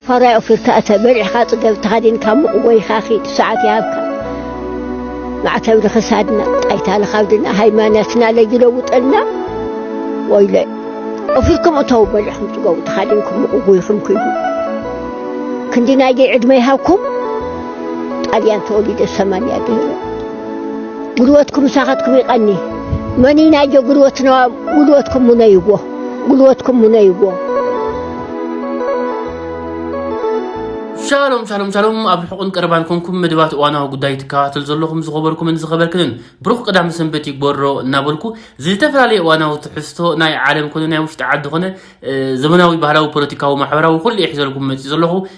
ፋራይ ኦፊርካ እተ በሪሕካ ጽገብ ተኻዲንካ ሙቕ ወይኻ ኺድ ሰዓት ይሃብካ ማዕተብ ንኽሳድና ጣይታ ንኻብድና ሃይማኖትና ለይለውጠልና ወይለ ኦፊርኩም እተው በሪሕኩም ጽገቡ ተኻዲንኩም ሙቕ ጎይኹም ክይዱ ክንዲ ናይ ደይ ዕድመ ይሃብኩም ጣልያን ተወሊደ ሰማንያ ድህረ ጉልበትኩም ሳኻትኩም ይቐኒ መኒ ናይጆ ጉልበትና ጉልበትኩም ሙነይዎ ጉልበትኩም ምነይዎ። ሻሎም ሻሎም ሻሎም ኣብ ርሑቕን ቀረባን ኮንኩም መደባት እዋናዊ ጉዳይ ትከታተሉ ዘለኹም ዝኸበርኩምን ዝኸበርክንን ብሩኽ ቀዳም ሰንበት ይግበሮ እናበልኩ ዝተፈላለየ እዋናዊ ትሕዝቶ ናይ ዓለም ኮነ ናይ ውሽጢ ዓዲ ኮነ ዘመናዊ ባህላዊ ፖለቲካዊ ማሕበራዊ ኩሉ ይሕዘልኩም መፂ ዘለኹ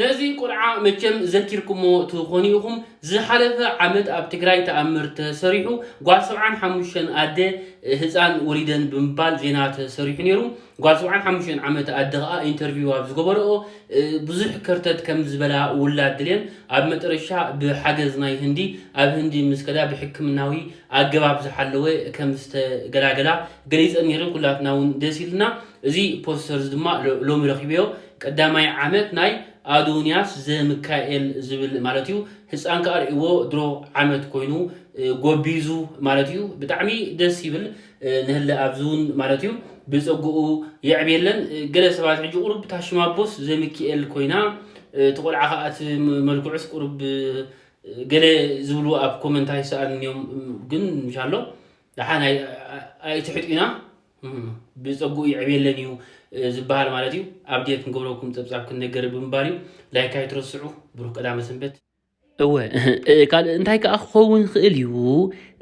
ነዚ ቁልዓ መቸም ዘኪርኩሞ ትኾኑ ኢኹም ዝሓለፈ ዓመት ኣብ ትግራይ ተኣምር ተሰሪሑ ጓል ሰብዓን ሓሙሽተን ኣደ ህፃን ወሊደን ብምባል ዜና ተሰሪሑ ነይሩ። ጓል ሰብዓን ሓሙሽተን ዓመት ኣደ ከኣ ኢንተርቪው ኣብ ዝገበረኦ ብዙሕ ከርተት ከም ዝበላ ውላድ ድልየን ኣብ መጠረሻ ብሓገዝ ናይ ህንዲ ኣብ ህንዲ ምስ ከዳ ብሕክምናዊ ኣገባብ ዝሓለወ ከም ዝተገላገላ ገሊጸን ኔረን ኩላትና ውን ደስ ኢሉና እዚ ፖስተር እዚ ድማ ሎሚ ረኪበዮ ቀዳማይ ዓመት ናይ ኣዶንያስ ዘምካኤል ዝብል ማለት እዩ ህጻን ከኣ ርእይዎ ድሮ ዓመት ኮይኑ ጎቢዙ ማለት እዩ ብጣዕሚ ደስ ይብል ንህለ ኣብዚ እውን ማለት እዩ ብፀጉኡ የዕብየለን ገለ ሰባት ሕጂ ቁሩብ እታ ሽማቦስ ዘሚኪኤል ኮይና እቲ ቆልዓ ከዓ እቲ መልክዑስ ቁሩብ ገለ ዝብሉ ኣብ ኮመንት ኣይሰኣልን እዮም ግን እንሻሎ ደሓን ኣይትሕጡና ብፀጉኡ ይዕብየለን እዩ ዝበሃል ማለት እዩ ኣብዴት ክንገብረኩም ፀብፃብ ክንነገር ብምባል እዩ ላይክ ኣይትረስዑ ብሩክ ቀዳመ ሰንበት እወ እህ ካልእ እንታይ ከኣ ክኸውን ይኽእል እዩ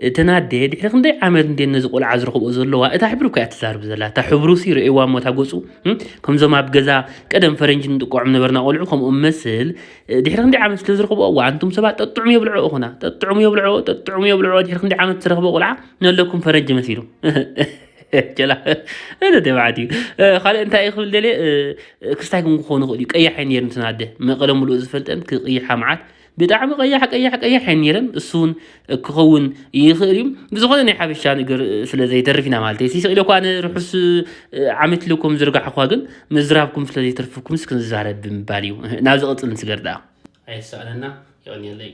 እተን ኣደ ድሕሪ ክንደይ ዓመት እንደ ነዚ ቆልዓ ዝረኽብኦ ዘለዋ እታ ሕብሪ እኮ እያ ትዛርብ ዘላ እታ ሕብሩ ሲ ረእዋ እሞ እታ ገጹ እም፣ ከምዞም ኣብ ገዛ ቀደም ፈረንጂ ንጥቅዖም ነበርና ቆልዑ ከምኡ መስል እ፣ ድሕሪ ክንደይ ዓመት ስለ ዝረኽብኦ እዋ ኣንቱም ሰባት ጠጥዑም የብልዕኦ ኹና ጠጥዑም የብልዕኦ ጠጥዑም የብልዕኦ ድሕሪ ክንደይ ዓመት ዝረኽበ ቆልዓ ነለኩም ፈረንጂ መሲሉ ጀላ እነ ደብዓት እዩ ካልእ እንታይ ክብል ደልየ ክስታይ ክም ክኾኑ ይኽእል እዩ ቀያሕ እየ ነይሩ እንትን ኣደ መቐለ ሙሉእ ዝፈልጠን ክቕይሓ መዓት ብጣዕሚ ቀያሕ ቀያሕ ቀያሕ እየ ነይረን እሱ እውን ክኸውን ይኽእል እዩ ብዝኾነ ናይ ሓበሻ ነገር ስለ ዘይተርፍ ኢና ማለት እዩ ስቕ ኢለ እኳ ንርሑስ ዓመት ኢለኩም ዝርጋሕኳ ግን ምዝራብኩም ስለ ዘይተርፍኩም ስክንዛረብ ብምባል እዩ ናብ ዝቕፅል ንስገር ደኣ ኣይትሰኣነና የቀንየለይ።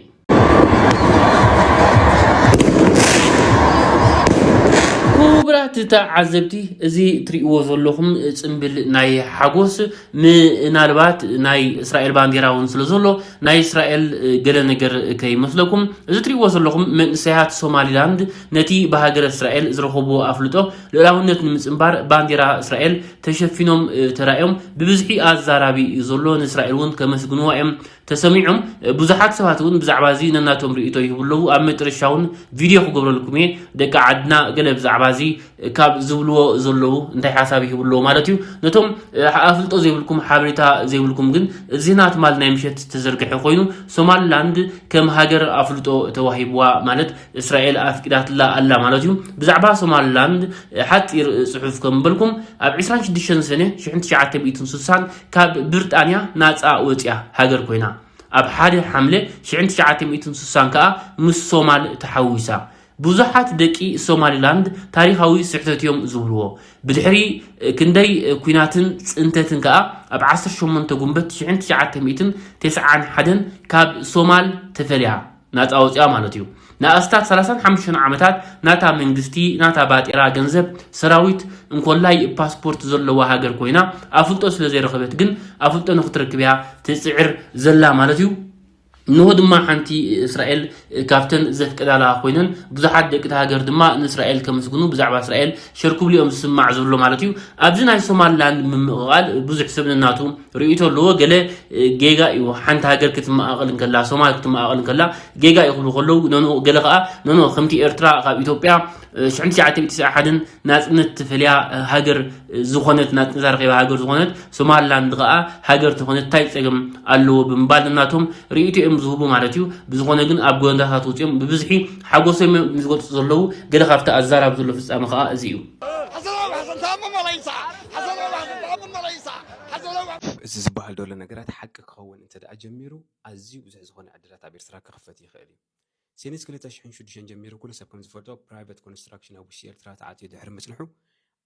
ክቡራት ተዓዘብቲ እዚ ትሪእዎ ዘለኹም ፅምብል ናይ ሓጎስ ምናልባት ናይ እስራኤል ባንዴራ እውን ስለ ዘሎ ናይ እስራኤል ገለ ነገር ከይመስለኩም እዚ ትሪእዎ ዘለኹም መንእሰያት ሶማሊላንድ ነቲ ብሃገረ እስራኤል ዝረኸብዎ ኣፍልጦ ልኡላውነት ንምጽንባር ባንዴራ እስራኤል ተሸፊኖም ተራእዮም ብብዝሒ ኣዛራቢ እዩ ዘሎ ንእስራኤል እውን ከመስግንዋ እዮም ተሰሚዖም ብዙሓት ሰባት እውን ብዛዕባ እዚ ነናቶም ርእቶ ይህቡ ኣለዉ ኣብ መጨረሻ እውን ቪድዮ ክገብረልኩም እየ ደቂ ዓድና ገለ ብዛዕባ እዚ ካብ ዝብልዎ ዘለዉ እንታይ ሓሳብ ይህቡ ኣለዉ ማለት እዩ ነቶም ኣፍልጦ ዘይብልኩም ሓበሬታ ዘይብልኩም ግን ዜና ትማል ናይ ምሸት ዝተዘርግሐ ኮይኑ ሶማልላንድ ከም ሃገር ኣፍልጦ ተዋሂብዋ ማለት እስራኤል ኣፍቂዳትላ ኣላ ማለት እዩ ብዛዕባ ሶማልላንድ ሓፂር ፅሑፍ ከም በልኩም ኣብ 26 ሰነ 1960 ካብ ብርጣንያ ናፃ ወፅያ ሃገር ኮይና ኣብ ሓደ ሓምለ 1960 ከዓ ምስ ሶማል ተሓዊሳ ብዙሓት ደቂ ሶማሊላንድ ታሪካዊ ስሕተት እዮም ዝብልዎ ብድሕሪ ክንደይ ኩናትን ፅንተትን ከዓ ኣብ 18 ጉንበት 1991 ካብ ሶማል ተፈልያ ናጻ ወጺኣ ማለት እዩ። ንኣስታት ሰላሳን ሓሙሽተን ዓመታት ናታ መንግስቲ፣ ናታ ባጤራ ገንዘብ፣ ሰራዊት፣ እንኮላይ ፓስፖርት ዘለዋ ሃገር ኮይና ኣፍልጦ ስለ ዘይረኸበት ግን ኣፍልጦ ንክትረክብ እያ ትጽዕር ዘላ ማለት እዩ። እንሆ ድማ ሓንቲ እስራኤል ካብተን ዘፍቅዳላ ኮይነን ብዙሓት ደቂ እቲ ሃገር ድማ ንእስራኤል ከመስግኑ ብዛዕባ እስራኤል ሸር ክብሉ እዮም ዝስማዕ ዘሎ ማለት እዩ። ኣብዚ ናይ ሶማልላንድ ምምቕቓል ብዙሕ ሰብ ነናቱ ርእይቶ ኣለዎ ገለ ጌጋ እዩ ሓንቲ ሃገር ክትመቓቐል እንከላ ሶማል ክትመቓቐል እንከላ ጌጋ እዩ ክብሉ ከለዉ ነንኡ ገለ ከዓ ነንኦ ከምቲ ኤርትራ ካብ ኢትዮጵያ ሽሕን ትሽዓተ ሚእቲ ትስዓ ሓደን ናጽነት ትፈልያ ሃገር ዝኾነት ናጽነት ኣረኺባ ሃገር ዝኾነት ሶማልላንድ ከዓ ሃገር ተኾነት እንታይ ጸገም ኣለዎ ብምባል ነናቶም ርእይቶ እዮም ዝህቡ ማለት እዩ ብዝኾነ ግን ኣብ ጎንዳታት ውፅኦም ብብዝሒ ሓጎሶም እዮም ዝገልጹ ዘለዉ ገለ ካብቲ ኣዛራብ ዘሎ ፍጻመ ከዓ እዚ እዩ እዚ ዝበሃል ዘሎ ነገራት ሓቂ ክኸውን እንተድኣ ጀሚሩ ኣዝዩ ብዙሕ ዝኾነ ዕድላት ኣብ ኤርትራ ክኽፈት ይኽእል እዩ። ሲንስ ክልተ ሽሕን ሽዱሽተን ጀሚሩ ኩሉ ሰብ ከምዝፈልጦ ፕራይቨት ኮንስትራክሽን ኣብ ውሽጢ ኤርትራ ተኣትዩ ድሕሪ ምጽንሑ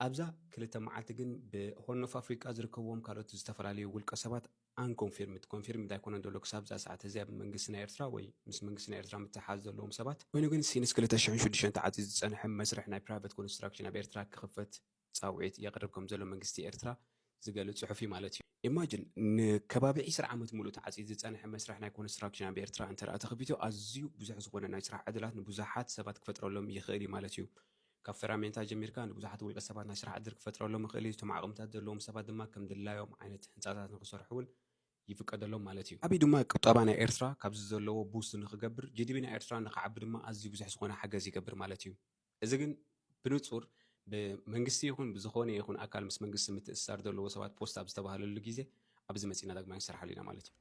ኣብዛ ክልተ መዓልቲ ግን ብሆርን ኦፍ ኣፍሪቃ ዝርከብዎም ካልኦት ዝተፈላለዩ ውልቀ ሰባት ኣንኮንፊርምድ ኮንፊርምድ ኣይኮነን ዘሎ ክሳብ እዛ ሰዓት እዚኣ ብመንግስቲ ናይ ኤርትራ ወይ ምስ መንግስቲ ናይ ኤርትራ ምትሕሓዝ ዘለዎም ሰባት ኮይኑ ግን ሲንስ ክልተ ሽሕን ሽዱሽተን ተዓጽዩ ዝጸንሐ መስርሕ ናይ ፕራይቨት ኮንስትራክሽን ኣብ ኤርትራ ክኽፈት ጻውዒት የቕርብ ከምዘሎ መንግስቲ ኤርትራ ዝገልጽ ጽሑፍ'ዩ ማለት እዩ። Imagine ንከባቢ ዕስራ ዓመት ሙሉእ ተዓጽዩ ዝጸንሐ መስርሕ ናይ ኮንስትራክሽን ኣብ ኤርትራ እንተድኣ ተኸፊቱ ኣዝዩ ብዙሕ ዝኾነ ናይ ስራሕ ዕድላት ንብዙሓት ሰባት ክፈጥረሎም ይኽእል'ዩ ማለት እዩ። ካብ ፈራሜንታ ጀሚርካ ንብዙሓት ውልቀ ሰባት ናይ ስራሕ ዕድል ክፈጥረሎም ይኽእል'ዩ፣ እቶም ዓቕምታት ዘለዎም ሰባት ድማ ከም ድላዮም ዓይነት ህንጻታት ንኽሰርሑ'ውን ይፍቀደሎም ማለት እዩ። ዓብይ ድማ ቁጠባ ናይ ኤርትራ ካብዚ ዘለዎ ቡስት ንኽገብር፣ GDP ናይ ኤርትራ ንኽዓቢ ድማ ኣዝዩ ብዙሕ ዝኾነ ሓገዝ ይገብር ማለት እዩ። እዚ ግን ብንጹር ብመንግስቲ ይኹን ብዝኾነ ይኹን ኣካል ምስ መንግስቲ ምትእስሳር ዘለዎ ሰባት ፖስት ኣብ ዝተባህለሉ ግዜ ኣብዚ መጺእና ዳግማይ ንሰርሓሉ ኢና ማለት እዩ።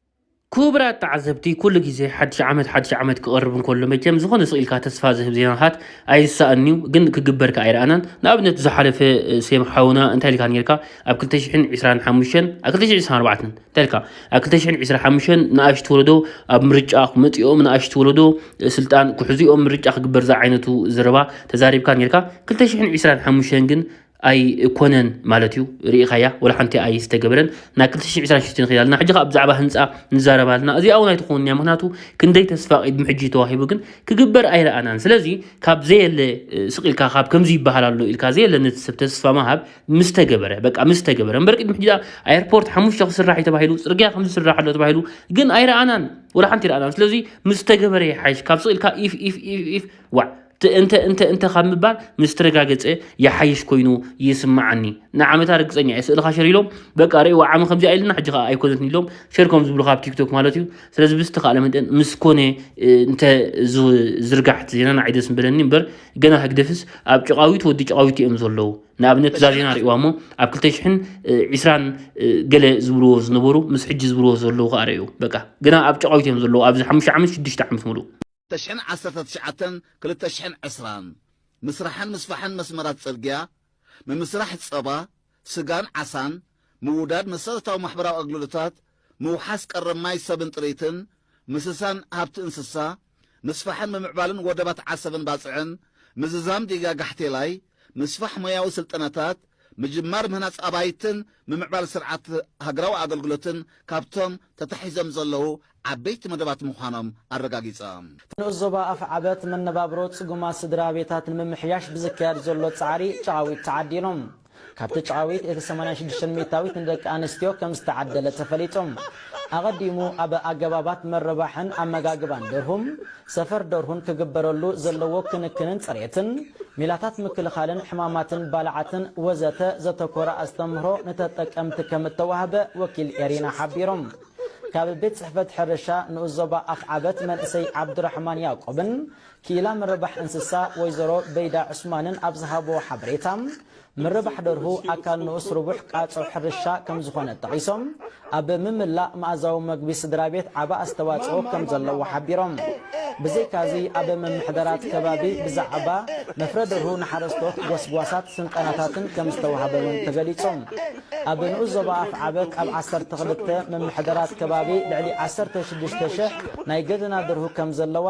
ኩቡራት ተዓዘብቲ ኩሉ ግዜ ሓድሽ ዓመት ሓድሽ ዓመት ክቐርብ እንከሎ መቸም ዝኾነ ስቕ ኢልካ ተስፋ ዝህብ ዜናታት ኣይስሳእንዩ ግን ክግበር ከኣ ኣይረኣናን ንኣብነት ብዝሓለፈ ሴም ሓውና እንታይ ኢልካ ኔርካ ኣብ ክልተ ሽሕን ዕስራን ሓሙሽተን ኣብ ክልተ ሽሕን ዕስራን ኣርባዕተን ተልካ ኣብ 2025 ንኣሽቱ ወለዶ ኣብ ምርጫ ክመፅኦም ንኣሽቱ ወለዶ ስልጣን ክሕዙኦም ምርጫ ክግበር ዝዓይነቱ ዘረባ ተዛሪብካ ነርካ 2025 ግን ኣይኮነን ማለት እዩ ርኢኻያ ወላ ሓንቲ ኣይ ዝተገበረን ናብ 226 ንኸይድ ኣለና ሕጂ ከዓ ብዛዕባ ህንፃ ንዛረብ ኣለና እዚኣ እውን ኣይትኸውን እያ ምክንያቱ ክንደይ ተስፋ ቅድሚ ሕጂ ተዋሂቡ ግን ክግበር ኣይረኣናን ስለዚ ካብ ዘየለ ስቅ ኢልካ ካብ ከምዚ ይበሃል ኣሎ ኢልካ ዘየለ ነቲ ሰብ ተስፋ ምሃብ ምስ ተገበረ በቃ ምስ ተገበረ እምበር ቅድሚ ሕጂ ኣየርፖርት ሓሙሽተ ክስራሕ እዩ ተባሂሉ ፅርግያ ከም ዝስራሕ ኣሎ ተባሂሉ ግን ኣይረኣናን ወላ ሓንቲ ረኣናን ስለዚ ምስ ተገበረ ይሓይሽ ካብ ስቕ ኢልካ ኢፍ ኢፍ ኢፍ ኢፍ ዋዕ እንተ እንተ እንተ ካብ ምባል ምስ ተረጋገፀ ይሓይሽ ኮይኑ ይስምዓኒ ንዓመታ ርግፀኛ እየ ስእልኻ ሸር ኢሎም በቃ ርእይዎ ዓሚ ከምዚ ኣይልና ሕጂ ከዓ ኣይኮነትን ኢሎም ሸር ከም ዝብሉ ካብ ቲክቶክ ማለት እዩ ስለዚ ብዝተኻእለ መጠን ምስ ኮነ እንተ ዝርጋሕቲ ዜናና ዓይደስ ምበለኒ እምበር ገና ህግደፍስ ኣብ ጭቓዊት ወዲ ጭቓዊት እዮም ዘለዉ ንኣብነት እዛ ዜና ርእዋ እሞ ኣብ 220 ገለ ዝብልዎ ዝነበሩ ምስ ሕጂ ዝብልዎ ዘለዉ ከኣ ርእዩ በቃ ገና ኣብ ጭቓዊት እዮም ዘለዉ ኣብዚ ሓሙሽተ ዓመት ሽዱሽተ ዓመት ምሉእ ተሽሕን ዓሰርተ ትሽዓተን ክልተ ሽሕን ዕስራን ምስራሕን ምስፋሕን መስመራት ጽርግያ፣ ምምስራሕ ጸባ፣ ስጋን ዓሳን፣ ምውዳድ መሰረታዊ ማሕበራዊ ኣግልግሎታት፣ ምውሓስ ቀረብ ማይ ሰብን ጥሪትን፣ ምስሳን ሃብቲ እንስሳ፣ ምስፋሕን ምምዕባልን ወደባት ዓሰብን ባጽዕን፣ ምዝዛም ዲጋ ጋሕቴላይ፣ ምስፋሕ ሞያዊ ስልጠናታት፣ ምጅማር ምህናጽ ኣባይትን ምምዕባል ስርዓት ሃገራዊ ኣገልግሎትን ካብቶም ተታሒዞም ዘለዉ ዓበይቲ መደባት ምዃኖም ኣረጋጊጾም። ንኡስ ዞባ ኣፍዓበት መነባብሮ ጽጉማት ስድራቤታት ንምምሕያሽ ብዝካየድ ዘሎ ጻዕሪ ጨቓዊት ተዓዲሎም። ካብቲ ጨዋዊት እቲ ሰማንያን ሽዱሽተን ሚእታዊት ንደቂ ኣንስትዮ ከም ዝተዓደለ ተፈሊጡ። ኣቐዲሙ ኣብ ኣገባባት ምርባሕን ኣመጋግባን ደርሁም፣ ሰፈር ደርሁን ክግበረሉ ዘለዎ ክንክንን ጽሬትን፣ ሜላታት ምክልኻልን ሕማማትን ባልዓትን ወዘተ ዘተኮረ ኣስተምህሮ ንተጠቀምቲ ከም እተዋህበ ወኪል ኤሪና ሓቢሩ። ካብ ቤት ጽሕፈት ሕርሻ ንኡስ ዞባ ኣፍዓበት መንእሰይ ዓብዱራሕማን ያቆብን ክኢላ ምርባሕ እንስሳ ወይዘሮ በይዳ ዑስማንን ኣብ ዝሃብዎ ሓበሬታ፣ ምርባሕ ደርሁ ኣካል ንኡስ ርቡሕ ቃጾ ሕርሻ ከምዝኾነ ጠቒሶም፣ ኣብ ምምላእ መኣዛዊ መግቢ ስድራቤት ዓቢ ኣስተዋጽኦ ከምዘለዎ ሓቢሮም። ብዘይካ'ዚ ኣብ ምምሕዳራት ከባቢ ብዛዕባ መፍረ ደርሁ ንሓረስቶት ጎስጓሳት ስልጠናታትን ከምዝተዋህበ'ውን ተገሊጹ። ኣብ ንኡስ ዞባ ኣፍዓበት ኣብ ዓሰርተ ክልተ ምምሕዳራት ከባቢ ልዕሊ ዓሰርተ ሽዱሽተ ሽሕ ናይ ገደና ደርሁ ከምዘለዋ፣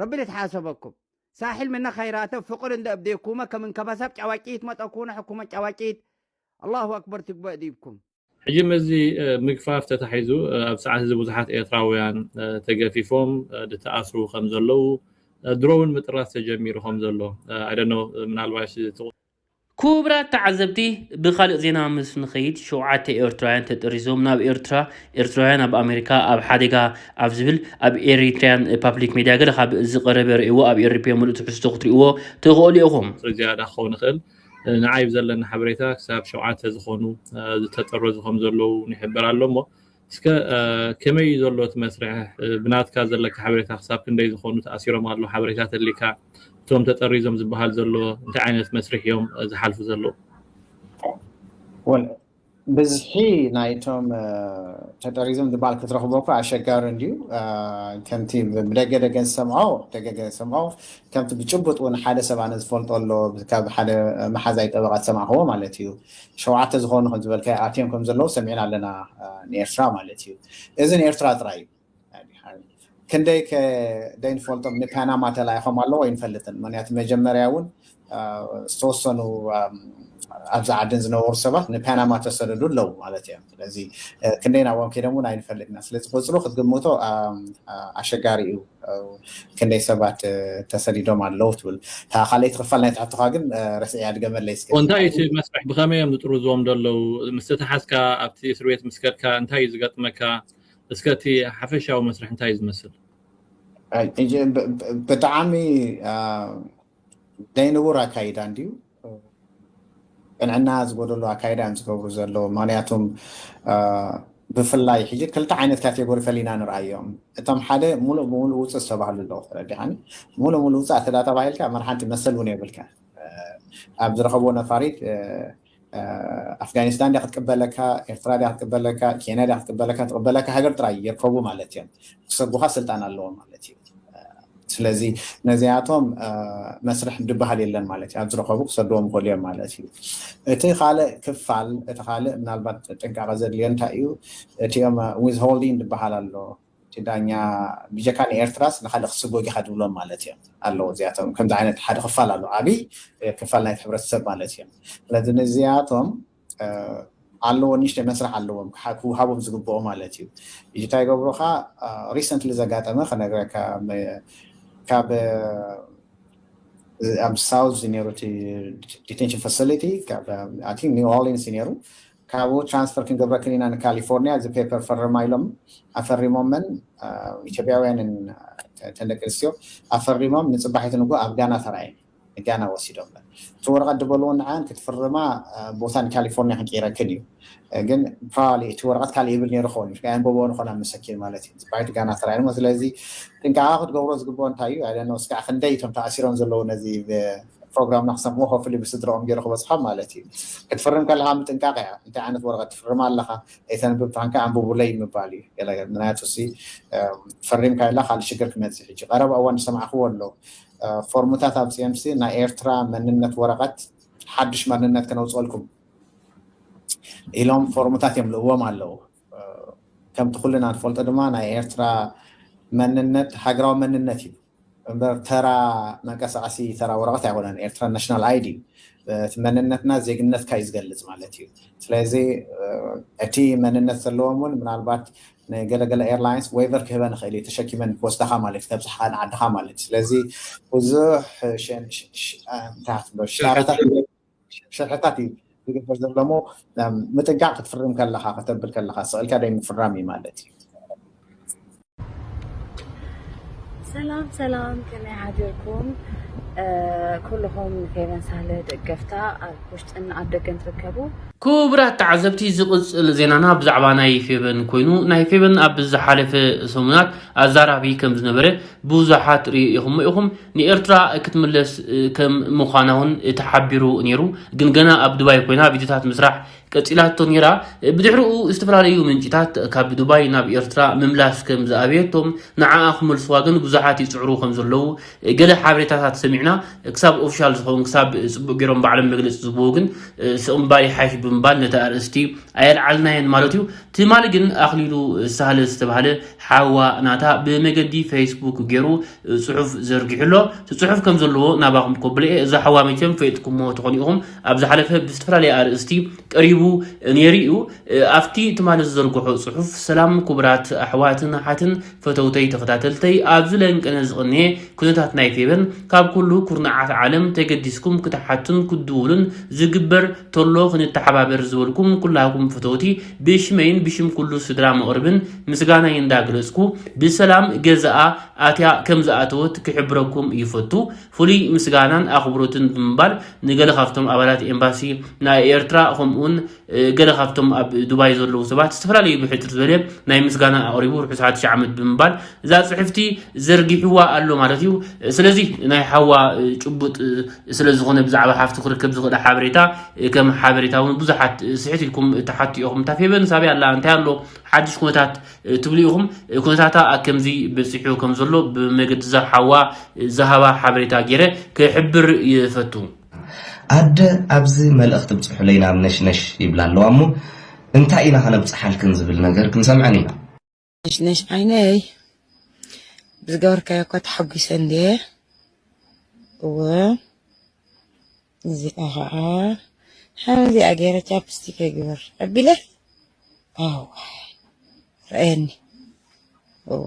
ረቢ ልትሓሰበኩም ሳሒል ምነ ኸይራተ ፍቅር እንደ እብዴኩመ ከም እንከበሳብ ጫዋጭይት መጠ ኩነ ሕኩመት ጫዋጭይት ኣላሁ ኣክበር ትግበእ ዲብኩም። ሕጂ ምስዚ ምግፋፍ ተታሒዙ ኣብ ሰዓት እዚ ብዙሓት ኤርትራውያን ተገፊፎም ድተኣስሩ ከምዘለዉ ድሮውን ምጥራስ ተጀሚሩ ከምዘሎ I don't know ምናልባሽ እቲ ኩቡራት ተዓዘብቲ ብኻልእ ዜና ምስ ንኸይድ ሸውዓተ ኤርትራውያን ተጠሪዞም ናብ ኤርትራ ኤርትራውያን ኣብ ኣሜሪካ ኣብ ሓደጋ ኣብ ዝብል ኣብ ኤሪትርያን ፓብሊክ ሜድያ ገለ ካብ ዝቐረበ ርእይዎ ኣብ ኤሪፒ ምሉእ ትሕዝቶ ክትርእይዎ ትኸእሉ ኢኹም። ዝያዳ ክኸውን ይኽእል። ንዓይ ብዘለኒ ሓበሬታ ክሳብ ሸውዓተ ዝኾኑ ዝተጠረዙ ከምዘለዉ ይሕበር ኣሎ እሞ እስከ ከመይ እዩ ዘሎ እቲ መስርሕ ብናትካ ዘለካ ሓበሬታ ክሳብ ክንደይ ዝኮኑ ተኣሲሮም ኣለዉ ሓበሬታ ተሊካ እቶም ተጠሪዞም ዝበሃል ዘሎ እንታይ ዓይነት መስርሕ እዮም ዝሓልፉ ዘለዉ? ብዝሒ ናይቶም ተጠሪዞም ዝበሃል ክትረክቦ እኮ ኣሸጋሪ እንድዩ ከምቲ ብደገ ደገ ዝሰምዖ ደገ ገ ዝሰምዖ ከምቲ ብጭቡጥ ውን ሓደ ሰብ ኣነ ዝፈልጦ ኣሎ ካብ ሓደ መሓዛይ ጠበቃ ዝሰማዕክዎ ማለት እዩ ሸውዓተ ዝኾኑ ከም ዝበልካዮ ኣትዮም ከም ዘለዉ ሰሚዕና ኣለና ንኤርትራ ማለት እዩ እዚ ንኤርትራ ጥራይ እዩ ክንደይ ከ ደይንፈልጦም ንፓናማ ተላኢኾም ኣለዎ ኣይንፈልጥን ምክንያቱ መጀመርያ እውን ዝተወሰኑ ኣብዚ ዓድን ዝነበሩ ሰባት ንፓናማ ተሰደዱ ኣለዉ ማለት እዮም ስለዚ ክንደይ ናብኦም ከይዶም እውን ኣይንፈልጥና ስለዚ ቁፅሩ ክትግምቶ ኣሸጋሪ እዩ ክንደይ ሰባት ተሰዲዶም ኣለው ትብል እታ ካልኣይቲ ክፋል ናይቲ ሕቶኻ ግን ረሲዐያ ድገመለይ እስከ። እንታይ እዩ እቲ መስርሕ ብኸመይ እዮም ዝጥርዝዎም ዘለው ምስ ተታሓዝካ ኣብቲ እስር ቤት ምስ ከድካ እንታይ እዩ ዝገጥመካ እስከ እቲ ሓፈሻዊ መስርሕ እንታይ እዩ ዝመስል። ብጣዓሚ ናይ ንቡር ኣካይዳ እንድዩ ቅንዕና ዝጎደሎ ኣካይዳ እዮም ዝገብሩ ዘለዉ ምክንያቱም ብፍላይ ሕጂ ክልተ ዓይነት ካቴጎሪ ፈሊና ንርኣዮም እቶም ሓደ ሙሉእ ብሙሉእ ውፅእ ዝተባህሉ ኣለዉ ተረዲኻኒ ሙሉእ ሙሉእ ውፅእ ኣተዳ ተባሂልካ መርሓንቲ መሰል እውን የብልካ ኣብ ዝረኸብዎ ነፋሪት ኣፍጋኒስታን ድያ ክትቅበለካ ኤርትራ ድያ ክትቅበለካ ኬንያ ድያ ክትቅበለካ ትቕበለካ ሃገር ጥራይ ይርከቡ ማለት እዮም ክሰጉኻ ስልጣን ኣለዎም ማለት እዩ ስለዚ ነዚኣቶም መስርሕ ድበሃል የለን ማለት እዩ ኣብ ዝረኸቡ ክሰድዎም ይኽእሉ እዮም ማለት እዩ እቲ ካልእ ክፋል እቲ ካልእ ምናልባት ጥንቃቐ ዘድልዮ እንታይ እዩ እቲኦም ዊዝ ሆልዲን ድበሃል ኣሎ እቲ ዳኛ ብጀካ ንኤርትራስ ንካልእ ክስጎግ ኢኻ ድብሎም ማለት እዮም ኣለዎ እዚኣቶም ከምዚ ዓይነት ሓደ ክፋል ኣሎ ዓብይ ክፋል ናይቲ ሕብረተሰብ ማለት እዮም ስለዚ ንዚኣቶም ኣለዎ ንእሽተይ መስርሕ ኣለዎም ክውሃቦም ዝግብኦ ማለት እዩ እጂ እንታይ ይገብሩ ከ ሪሰንትሊ ዘጋጠመ ክነግረካ ካብ ኣብ ሳውዝ ነይሩ እቲ ዲቴንሽን ፋሲሊቲ ካብ ኣይ ቲንክ ኒው ኦርሊንስ እዩ ነይሩ ካብኡ ትራንስፈር ክንገብረክ ኢና ንካሊፎርኒያ እዚ ፔፐር ፈርማ ኢሎም ኣፈሪሞመን ኢትዮጵያውያንን ተን ደቂ ኣንስትዮ ኣፈሪሞም ንፅባሒት ንጉ ኣብ ጋና ተራእየን ንጋና ወሲዶምለን እቲ ወረቀት ድበልወን ንዐኣን ክትፍርማ ቦታ ንካሊፎርኒያ ክንቅይረክን እዩ ግን ፕራባብሊ እቲ ወረቀት ካልእ ይብል ነይሩ ክኸውን እዩ ኣየንበብዎን ይኾን ኣብ መሰኪን ማለት እዩ ጽባሒቱ ጋና ተራእየን እሞ ስለዚ ጥንቃቀ ክትገብሮ ዝግብኦ እንታይ እዩ ኣይደነው እስካዕ ክንደይ እቶም ተኣሲሮም ዘለዉ ነዚ ፕሮግራምና ክሰምዑ ሆፍሊ ብስድርኦም ገይሩ ክበጽሖም ማለት እዩ ክትፍርም ከለካ ምጥንቃቅ እያ እንታይ ዓይነት ወረቀት ትፍርም ኣለካ ኣይተንብብ ታንካ ኣንብቡለይ ምባል እዩ ገለ ምክንያቱ ሲ ፈሪምካ ኢላ ካልእ ሽግር ክመጽእ ሕጂ ቀረባ እዋን ዝሰማዕክዎ ኣሎ ፎርምታት ኣምጺኦምሲ ናይ ኤርትራ መንነት ወረቐት ሓድሽ መንነት ክነውጽኦልኩም ኢሎም ፎርምታት እዮም ልእዎም ኣለዉ ከምቲ ኩልና ንፈልጦ ድማ ናይ ኤርትራ መንነት ሃገራዊ መንነት እዩ እምበር ተራ መንቀሳቀሲ ተራ ወረቀት ኣይኮነን ኤርትራ ናሽናል ኣይዲ እቲ መንነትና ዜግነትካ እዩ ዝገልፅ ማለት እዩ ስለዚ እቲ መንነት ዘለዎም እውን ምናልባት ንገለ ገለ ኤርላይንስ ዌቨር ክህበን ይኽእል እዩ ተሸኪመን ክወስዳኻ ማለት እዩ ከብጽሓኻ ንዓድኻ ማለት እዩ ስለዚ ብዙሕ ሸን- ሽ- ሽ- ኣ፣ እንታይ ክትብሎ ሽጣራታት ሸርሕታት እዩ ዝግበር ዘሎ እሞ እም፣ ምጥንቃቕ ክትፍርም ከለኻ ከተብል ከለኻ ስቕልካ ደይ ምፍራም እዩ ማለት እዩ ሰላም ሰላም ከመይ ሓዲርኩም እ፣ ኩልኹም ፌቨን ሳህለ ደገፍታ ኣብ ውሽጥን ኣብ ደገን ትርከቡ ክቡራት ተዓዘብቲ ዝቕጽል ዜናና ብዛዕባ ናይ ፌበን ኮይኑ ናይ ፌበን ኣብ ዝሓለፈ ሰሙናት ኣዛራቢ ከም ዝነበረ ብዙሓት ርኢኹሞ ኢኹም ንኤርትራ ክትምለስ ከም ምዃና እውን ተሓቢሩ ነይሩ ግን ገና ኣብ ዱባይ ኮይና ቪድዮታት ምስራሕ ቀጺላቶ ነይራ ብድሕሪኡ ዝተፈላለዩ ምንጭታት ካብ ዱባይ ናብ ኤርትራ ምምላስ ከም ዝኣበየቶም ንዓኣ ክመልስዋ ግን ብዙሓት ይጽዕሩ ከም ዘለዉ ገለ ሓበሬታታት ሰሚዕና ክሳብ ኦፊሻል ዝኸውን ክሳብ ፅቡቅ ገይሮም ባዕሎም መግለፂ ዝህብዎ ግን ስቕ ምባል ይሓይሽ ብምባል ነቲ ኣርእስቲ ኣየልዓልናየን ማለት እዩ። ትማሊ ግን ኣኽሊሉ ሳህለ ዝተባህለ ሓዋ ናታ ብመገዲ ፌስቡክ ገይሩ ፅሑፍ ዘርጊሑ ኣሎ። እቲ ፅሑፍ ከም ዘለዎ ናባኹም ከብሎ እየ። እዛ ሓዋ መቸም ፈይጥኩሞ ትኾኑ ኢኹም ኣብ ዝሓለፈ ብዝተፈላለየ ኣርእስቲ ቀሪቡ ነይሩ እዩ። ኣብቲ ትማሊ ዝዘርግሖ ፅሑፍ ሰላም ኩቡራት ኣሕዋትን ኣሓትን ፈተውተይ ተኸታተልተይ ኣብዚ ለንቅነ ዝቕንየ ኩነታት ናይ ፌቨን ካብ ኩሉ ኩርናዓት ዓለም ተገዲስኩም ክትሓቱን ክትድውሉን ዝግበር ተሎ ክንተሓባበር ዝበልኩም ኩላኩም ፈተውቲ ብሽመይን ብሽም ኩሉ ስድራ መቕርብን ምስጋናይ እንዳ ገለጽኩ ብሰላም ገዛኣ ኣትያ ከም ዝኣተወት ክሕብረኩም ይፈቱ ፍሉይ ምስጋናን ኣኽብሮትን ብምባል ንገለ ካብቶም ኣባላት ኤምባሲ ናይ ኤርትራ ከምኡውን ገለ ካብቶም ኣብ ዱባይ ዘለዉ ሰባት ዝተፈላለዩ ብሕፅር ዝበለ ናይ ምስጋና ኣቕሪቡ ርሑስ ሓድሽ ዓመት ብምባል እዛ ፅሕፍቲ ዘርጊሕዋ ኣሎ ማለት እዩ ስለዚ ናይ ሓዋ ጭቡጥ ስለ ዝኾነ ብዛዕባ ሓፍቱ ክርከብ ዝኽእል ሓበሬታ ከም ሓበሬታ እውን ብዙሓት ስሕት ኢልኩም ተሓቱ ኢኹም እታ ፌበን ሳብያ ኣላ እንታይ ኣሎ ሓድሽ ኩነታት ትብሉ ኢኹም ኩነታታ ከምዚ በፂሑ ከም ዘሎ ብመገዲ እዛ ሓዋ ዝሃባ ሓበሬታ ገይረ ክሕብር ይፈቱ ኣደ ኣብዚ መልእኽቲ ብጽሑለይ ናብ ነሽነሽ ይብላ ኣለዋ እሞ እንታይ ኢና ከነብጽሓልክን ዝብል ነገር ክንሰምዐን ኢና። ነሽነሽ ዓይነይ ብዝገበርካዮ እኳ ተሓጒሰ እንድየ እወ እዚኣ ከዓ ከምዚኣ ገይረ ቻፕስቲክ ይግበር ኣቢለ ኣዋይ ረኣየኒ እወ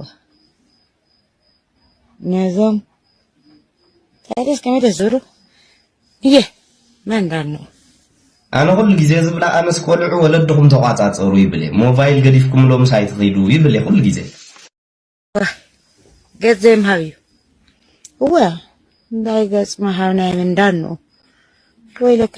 ነዞም ታዲያ እስከ መደ ዙሩ እየ መን ዳኖ ኣነ ኩሉ ግዜ ዝብላ ኣነስ ቆልዑ ወለድኹም ተቋጻጸሩ ይብል እየ ሞባይል ገዲፍኩምሎም ሳይ ትኺዱ ይብል እየ ኩሉ ግዜ ገጽ ዘይምሃብ እዩ እወ እንታይ ገጽ ምሃብ ናይ ምንዳን ነው ወይለከ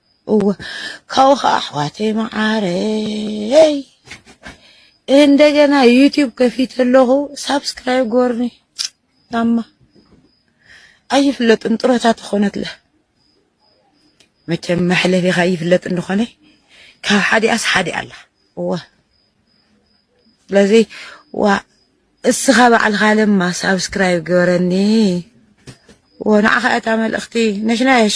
እወ ካብኡ ከዓ ኣሕዋተይ መዓረይ እንደገና ዩቲዩብ ከፊት ኣለኹ ሳብስክራይብ ጎርኒ ታማ ኣይፍለጥን ጥሮታ ተኾነትለ መቸም መሕለፊኻ ይፍለጥ እንደኾነ ካብ ሓዲኣስ ሓዲ ኣላ እወ ስለዚ ዋ እስኻ ባዕልኻ ለማ ሳብስክራይብ ገበረኒ ወ ንዓኻ እታ መልእኽቲ ነሽነሽ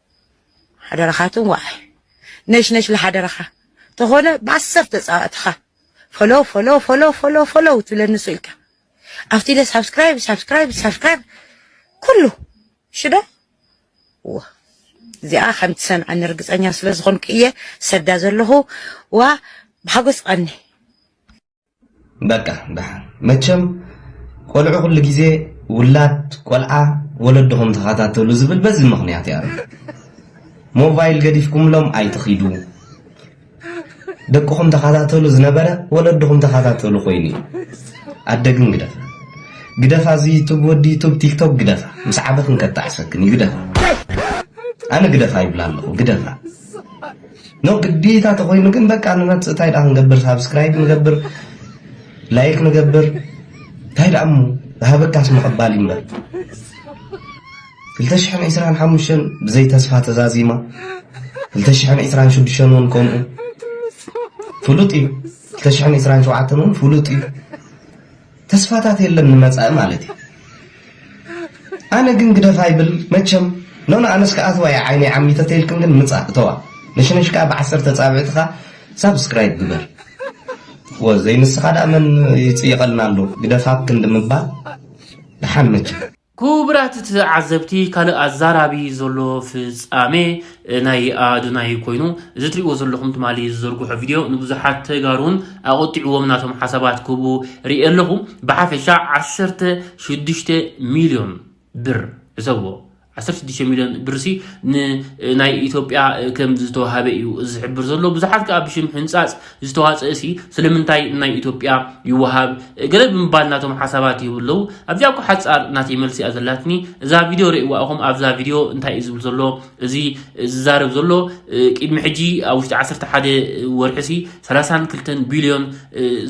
ሓደራኻ ትንዋዕ ነሽነሽ ለሓደራኻ ተኾነ ብዓሰርተ ፃዋእትኻ ፈሎ ፈሎ ፈሎ ፈሎ ፈሎ ትብለኒ ሱ ኢልካ ኣብቲ ኢለ ሳብስክራይብ ሳብስክራይብ ሳብስክራይብ ኩሉ ሽዶ እዎ እዚኣ ከም ትሰምዐኒ ርግፀኛ ስለ ዝኾንኩ እየ ሰዳ ዘለኹ ዋ ብሓጎስ ቐኒ በቃ ደሓን መቸም ቆልዑ ኩሉ ግዜ ውላድ ቆልዓ ወለድኹም ተኸታተሉ ዝብል በዚ ምኽንያት እያ ሞባይል ገዲፍኩምሎም ኣይትኺዱ ደቅኹም ተኸታተሉ ዝነበረ ወለድኹም ተኸታተሉ ኮይኑ እዩ ኣደ ግን ግደፋ ግደፋ እዚ ዩቱብ ወዲ ዩቱብ ቲክቶክ ግደፋ ምስ ዓበኽን ከጣዕሰክን እዩ ግደፋ ኣነ ግደፋ ይብላ ኣለኹ ግደፋ ን ግዴታ ተኾይኑ ግን በቃ ንመጽእ እንታይ ደኣ ክንገብር ሳብስክራይብ ንገብር ላይክ ንገብር እንታይ ደኣ እሞ ዝሃበካስ ምቕባል ይምበር 225 ብዘይ ተስፋ ተዛዚማ 226 እውን ከምኡ ፍሉጥ እዩ 227 እውን ፍሉጥ እዩ ተስፋታት የለን ንመጻኢ ማለት እዩ ኣነ ግን ግደፋ ኣይብል መቸም ኖኖ ኣነስ ክኣትዋ እየ ዓይነይ ዓሚተ ተይልክን ግን ምጻእ እተዋ ነሽነሽ ከኣ ብዓሰርተ ኣጻብዕትካ ሳብስክራይብ ግበር ወዘይ ንስኻ ደኣ መን ይጽይቐልና ኣሎ ግደፋ ኣብ ክንዲ ምባል ደሓን መቸም ኩቡራት ትዓዘብቲ ካልእ ኣዛራቢ ዘሎ ፍጻሜ ናይ ኣዶናይ ኮይኑ እዚ ትሪእዎ ዘለኹም ትማሊ ዝዘርግሖ ቪድዮ ንብዙሓት ተጋሩን ኣቖጢዕዎም ናቶም ሓሳባት ክህቡ ሪኤ ኣለኹ ብሓፈሻ ዓሰርተ ሽዱሽተ ሚልዮን ብር ሕሰብዎ ዓሰርተ ሽዱሽተ ሚልዮን ብርሲ ንናይ ኢትዮጵያ ከም ዝተዋሃበ እዩ ዝሕብር ዘሎ ብዙሓት ከዓ ብሽም ሕንጻጽ ዝተዋጽእሲ ስለምንታይ ናይ ኢትዮጵያ ይወሃብ ገለ ብምባል ናቶም ሓሳባት ይህቡ ኣለዉ ኣብዚኣ እኮ ሓጻር ናተይ መልሲ እያ ዘላትኒ እዛ ቪድዮ ርእይዋ ኢኹም ኣብዛ ቪድዮ እንታይ እዩ ዝብል ዘሎ እዚ ዝዛረብ ዘሎ ቅድሚ ሕጂ ኣብ ውሽጢ ዓሰርተ ሓደ ወርሒሲ ሰላሳን ክልተን ቢልዮን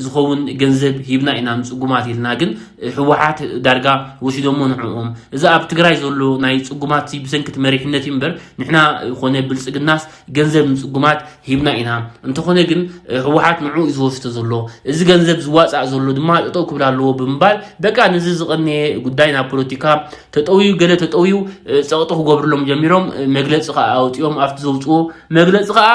ዝኸውን ገንዘብ ሂብና ኢና ንጽጉማት ኢልና ግን ህወሓት ዳርጋ ወሲዶሞ ንዕኦም እዚ ኣብ ትግራይ ዘሎ ናይ ጽጉማት ብሰንኪቲ መሪሕነት እዩ እምበር ንሕና ኮነ ብልጽግናስ ገንዘብ ንፅጉማት ሂብና ኢና እንተኾነ ግን ህወሓት ንዑ እዩ ዝወስዶ ዘሎ እዚ ገንዘብ ዝዋፃእ ዘሎ ድማ ጠጠው ክብል ኣለዎ ብምባል በቃ ንዚ ዝቐነየ ጉዳይ ናብ ፖለቲካ ተጠውዩ ገለ ተጠውዩ ፀቕጢ ክገብርሎም ጀሚሮም መግለፂ ከዓ ኣውፅኦም ኣብቲ ዘውፅዎ መግለፂ ከዓ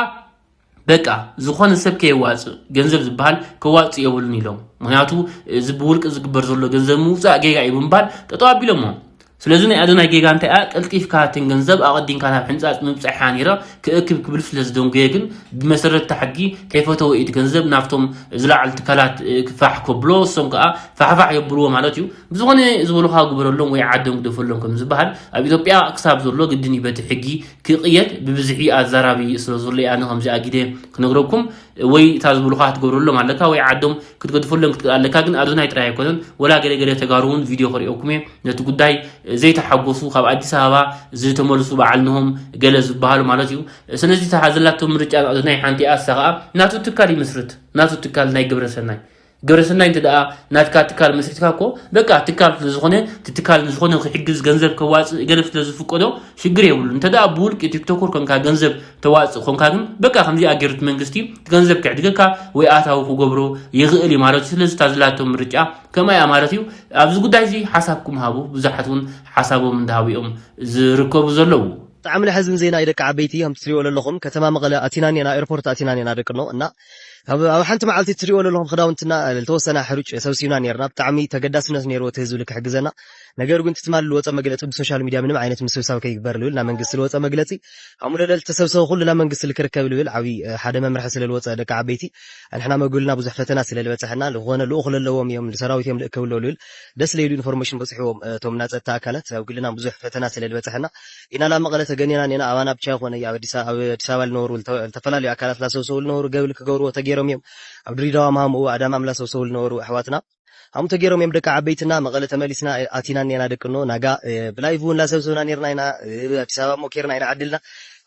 በቃ ዝኾነ ሰብ ከየዋፅእ ገንዘብ ዝበሃል ከዋፅእ የብሉን ኢሎም ምክንያቱ እዚ ብውልቂ ዝግበር ዘሎ ገንዘብ ምውፃእ ጌጋ እዩ ብምባል ጠጠው ኣቢሎሞ ስለዚ ናይ ኣዶናይ ጌጋ እንታይ እያ ቀልጢፍካ እተን ገንዘብ ኣቐዲምካ ናብ ሕንጻጽ ምብጻሕ እያ ነይራ ክእክብ ክብል ስለ ዝደንጎየ ግን ብመሰረት እቲ ሕጊ ከይፈተወ እዩ እቲ ገንዘብ ናብቶም ዝለዓሉ ትካላት ክፋሕ ከብሎ እሶም ከኣ ፋሕፋሕ የብልዎ ማለት እዩ ብዝኾነ ዝበሉኻ ግበረሎም ወይ ዓዶም ግደፈሎም ከም ዝበሃል ኣብ ኢትዮጵያ ክሳብ ዘሎ ግድን እዩ በቲ ሕጊ ክቕየድ ብብዝሒ ኣዛራቢ ስለ ዘሎ ኣነ ከምዚ ኣጊደ ክነግረኩም ወይ እታ ዝበሉኻ ክትገብረሎም ኣለካ ወይ ዓዶም ክትገድፈሎም ክትክእል ኣለካ ግን ኣዶናይ ጥራይ ኣይኮነን ወላ ገለ ገለ ተጋሩ እውን ቪድዮ ክርእየኩም እየ ነቲ ጉዳይ ዘይተሓጎሱ ካብ ኣዲስ ኣበባ ዝተመልሱ በዓል ንሆም ገለ ዝበሃሉ ማለት እዩ ስለዚ እታ ዘላቶ ምርጫ ናቱ ናይ ሓንቲኣ እሳ ከዓ ናቱ ትካል ይምስርት ናቱ ትካል ናይ ግብረ ሰናይ ግብረ ሰናይ እንተ ደኣ ናትካ ትካል መስሪትካ እኮ በቃ ትካል ስለ ዝኾነ እቲ ትካል ንዝኾነ ክሕግዝ ገንዘብ ከዋፅእ ገለ ስለ ዝፍቀዶ ሽግር የብሉ እንተ ደኣ ብውልቂ ቲክቶከር ኮንካ ገንዘብ ተዋፅእ ኮንካ ግን በቃ ከምዚኣ ገይሩ እቲ መንግስቲ ገንዘብ ክዕድገካ ወይ ኣታዊ ክገብሮ ይኽእል እዩ ማለት እዩ ስለዚ እታ ዘላቶ ምርጫ ከመይ እያ ማለት እዩ ኣብዚ ጉዳይ እዚ ሓሳብኩም ሃቡ ብዙሓት እውን ሓሳቦም እንዳሃቡ እዮም ዝርከቡ ዘለዉ። ብጣዕሚ ለሐዝን ዜና እዩ ደቂ ዓበይቲ ከምቲ ትሪእዎ ለለኹም ከተማ መቐለ ኣቲና እኔና ኤርፖርት ኣቲና እኔና ደቅኖ እና ኣብ ኣብ ሓንቲ መዓልቲ ትሪእዎ ለለኹም ኽዳውንትና ልተወሰና ሕሩጭ ሰብሲብና ኔርና ብጣዕሚ ተገዳስነት ኔርዎ እቲ ህዝቢ ልክሕግዘና ነገር ግን እቲ ትማሊ ልወፀ መግለፂ ብሶሻል ሚድያ ምንም ዓይነት ምስብሳብ ከይግበር ልብል ናብ መንግስቲ ልወፀ መግለፂ ኣሙለለ ልተሰብሰበ ኹሉ ናብ መንግስቲ ልክርከብ ልብል ዓብይ ሓደ መምርሒ ስለ ልወፀ ደቂ ዓበይቲ ኣንሕና መጉልና ብዙሕ ፈተና ስለ ልበፀሐና ልኾነ ልኡኽ ለለዎም እዮም ልሰራዊት እዮም ልእከብሎ ልብል ደስ ለይሉ ኢንፎርሜሽን በፅሕዎም እቶም እና ፀጥታ ኣካላት ኣብ ግልና ብዙሕ ፈተና ስለ ልበፀሐና ኢና ላብ መቐለ ተገኔና ኔና ኣባና ብቻ ይኾነ ኣብ ኣዲስ ኣበባ ልነበሩ ልተፈላለዩ ኣካላት ላሰውሰው ልነበሩ ገብል ክገብርዎ ተገይሮም እዮም ኣብ ድሪዳዋ ማሃምኡ ኣዳማም ላሰውሰው ልነበሩ ኣሕዋትና ኣም ተገይሮም እዮም ደቂ ዓበይትና መቐለ ተመሊስና ኣቲና እኔና ደቂ እኖ ናጋ ብላይቭ እውን ላሰብሰብና ኔርና ኢና ኣዲስ ኣበባ እሞ ኬርና ኢና ዓድልና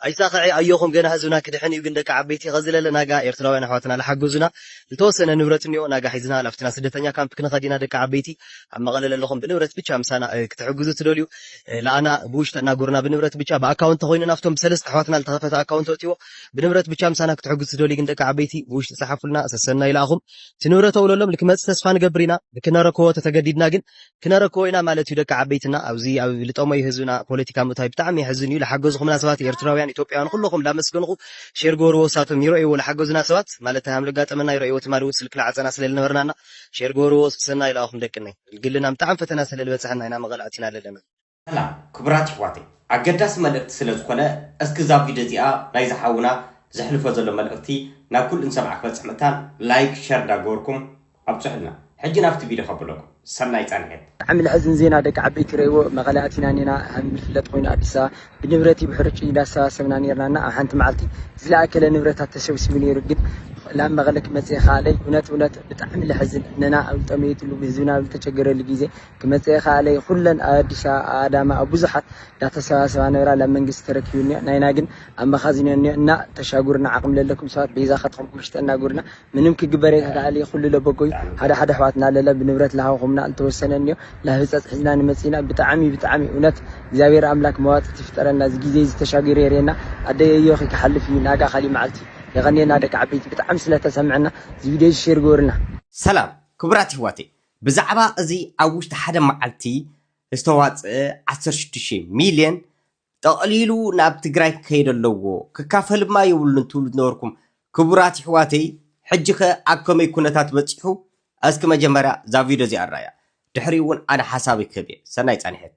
ኣይሳኸዔ ኣዮኹም ገና ህዝብና ክድሕን እዩ ግን ደቂ ዓበይቲ ኸዚ ለለ ናጋ ኤርትራውያን ኣሕዋትና ላሓገዙና ልተወሰነ ንብረት እኒኦ ናጋ ሒዝና ላፍትና ስደተኛ ካምፕ ክንኸድ ኢና ደቂ ዓበይቲ ኣብ መቐለ ለለኹም ብንብረት ብቻ ምሳና ክትሕግዙ ትደልዩ ላኣና ብውሽጢ ኣናግሩና ብንብረት ብቻ ብኣካውንት ተኾይኑ ናፍቶም ብሰለስተ ኣሕዋትና ልተኸፈተ ኣካውንት ኣእትዎ ብንብረት ብቻ ምሳና ክትሕግዙ ትደልዩ ግን ደቂ ዓበይቲ ብውሽጢ ጸሓፉልና ሰሰናዩ ላኣኹም እቲ ንብረት ኣውለሎም ልክመጽ ተስፋ ንገብር ኢና ልክነረክቦ ተተገዲድና ግን ክነረክቦ ኢና ማለት እዩ ደቂ ዓበይትና ኣብዚ ኣብ ልጠመዩ ህዝብና ፖለቲካ ምእታዊ ብጣዕሚ የሕዝን እዩ ልሓገዝኹምና ሰባት ኤርትራውያን ኢትዮጵያውያን ኹለኹም ላመስገንኹ ሼር ግበርዎ እሳቶም ይረእይዎ ልሓገዙና ሰባት ማለት ታይ ሃምልጋጠመና ይረእይዎ ትማሊ ውን ስልክ ልዓጸና ስለ ልነበርና እና ሼር ግበርዎ ሰናይ ልኣኹም ደቅነይ ልግልና ምጣዕሚ ፈተና ሰለ ልበጽሐና ኢና መቐል ኣቲና ለለና ሰላም ክቡራት የሕዋተይ ኣገዳሲ መልእክቲ ስለ ዝኮነ እስኪ እዛ ቪድዮ እዚኣ ናይዚ ሓውና ዘሕልፎ ዘሎ መልእክቲ ናብ ኩሉ ንሰምዓ ክበጽሕ ምእታን ላይክ ሸር ዳገበርኩም ኣብጹሑልና ሕጂ ናብቲ ቪድዮ ከብለኩም ሰናይ ጻኒሒት። ብጣዕሚ ለሕዝን ዜና ደቂ ዓበይቲ ረይዎ መቐለ ኣቲና ኔና ሃም ይፍለጥ ኮይኑ ኣዲስ ኣበባ ብንብረቲ ብሕርጭይ እንዳሰባሰብና ኔርና እና ኣብ ሓንቲ መዓልቲ ዝለኣከለ ንብረታት ተሰብሲቡ ኔሩ ግን ላብ መቐለ ክመጽእ ይኸኣለይ እውነት እውነት ብጣዕሚ ለሕዝን ነና ኣብ ልጠመየትሉ ህዝብና ኣብ ልተቸገረሉ ጊዜ ክመጽእ ይክኣለይ ኩለን ኣብ ኣዲስ ኣበባ ኣብ ኣዳማ ኣብ ብዙሓት ዳተሰባሰባ ነብራ ላብ መንግስቲ ተረኪቡ እኒኦ ናይና ግን ኣብ መኻዚኖ እኒኦ እና ተሻጉርና ዓቅሚ ለለኩም ሰባት በይዛ ከትኹምኩም ሽጠና ጉርና ምንም ክግበር የክክኣልይ ኩሉ ለበጎዩ ሓደ ሓደ ኣሕዋትና ለለ ብንብረት ለሃብኹምና ልተወሰነ እኒኦ ላብ ህጸጽ ሒዝና ንመጽኢና ብጣዕሚ ብጣዕሚ እውነት እግዚኣብሔር ኣምላክ መዋጽእት ይፍጠረልና እዚ ግዜ እዚ ተሻጊሩ የርእየና ኣደይ ኣዮኺ ክሓልፍ እዩ ናጋ ካሊእ መዓልቲ የቀንየልና ደቂ ዓበይቲ ብጣዕሚ ስለተሰምዐና እዚ ቪድዮ እዚ ሼር ግበሩልና። ሰላም ክቡራት የሕዋተይ ብዛዕባ እዚ ኣብ ውሽጢ ሓደ መዓልቲ ዝተዋፅኣ ዓሰርተ ሽዱሽተ ሚልየን ጠቕሊሉ ናብ ትግራይ ክከይድ ኣለዎ ክካፈልማ የብሉን ትብሉ ዝነበርኩም ክቡራት ይሕዋተይ ሕጂከ ኣብ ከመይ ኩነታት በፂሑ እስኪ መጀመርያ እዛ ቪድዮ እዚኣ ንርኣያ ድሕሪኡ እውን ኣነ ሓሳበይ ክህብ እየ ሰናይ ፃንሒት።